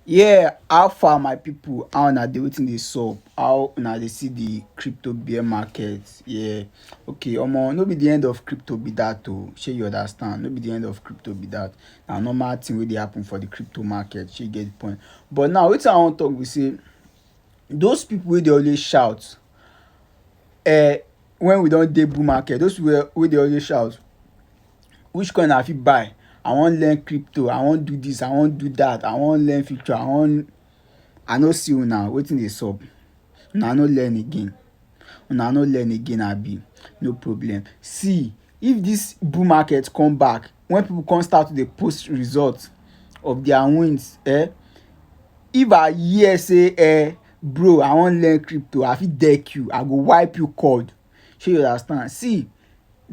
Yeah how far my people how una dey wetin dey sup how una dey see the crypto bear market yeah okay omo no be the end of crypto be that o shey you understand no be the end of crypto be that na normal thing wey dey happen for the crypto market shey you get the point but now wetin I wan talk be sey those people wey dey always shout um when we don dey bull market those people wey dey always shout which coin I fit buy? I wan learn crypto, I wan do this, I wan do that, I wan learn future, I wan I no see una wetin dey sup? Una no learn again? Una no learn again abi? No problem. See if this bull market come back when people come start to dey post result of their wins eh, if I hear say eh bro I wan learn crypto I fit deck you, I go wipe you code. Shey you understand. See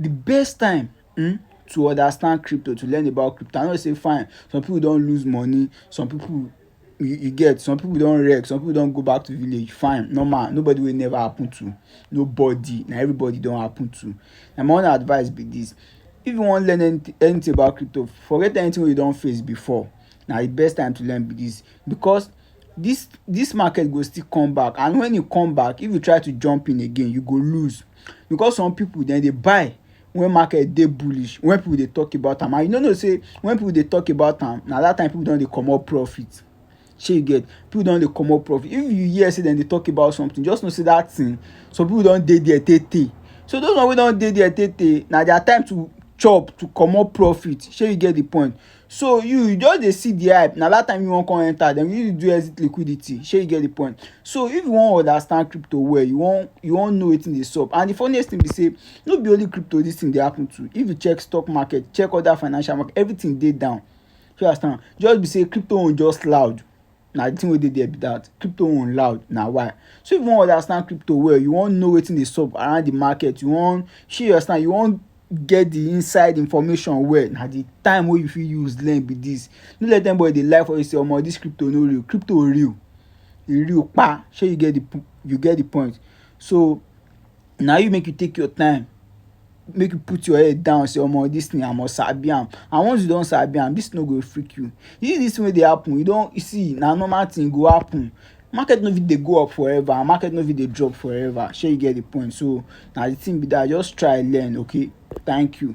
de best time um to understand crypto to learn about crypto I know sey fine some pipu don lose money some pipu you get some pipu don wreck some pipu don go back to village fine normal nobody wey e never happen to nobody na everybody e don happen to na my own advice be dis if you wan learn anything anything about crypto forget anything wey you don face before na de best time to learn be dis because This this market go still come back and when e come back if you try to jump in again you go lose because some people dem dey buy when market dey bullish when people dey talk about am and you no know sey when people dey talk about am na that time people don dey comot profit shey you get people don dey comot profit if you hear sey dem dey talk about something just know sey that thing some people don dey there tey tey so those one wey don dey there tey tey na their time to chop to comot profit shey you get the point So you you just dey see the hype na that time you wan come enter dem you do exit liquidity shey you get the point so if you wan understand crypto well you wan you wan know wetin dey sup and the funniest thing be say no be only crypto this thing dey happen to if you check stock market check other financial market everything dey down shey you understand just be say crypto own just loud. na the thing wey dey there be that crypto own loud na why so if you wan understand crypto well you wan know wetin dey sup around the market you wan shey you understand you wan get the inside information well na the time wey you fit use learn be this no let anybody dey lie for you say omo this crypto no real crypto real e real kpa shey you get the you get the point so. na you make you take your time make you put your head down say omo this thing I must sabi am and once you don sabi am this thing no go freak you you see this thing wey dey happen you don you see na normal thing e go happen market no fit dey go up forever and market no fit dey drop forever shey you get the point so na the thing be that just try learn okay thank you.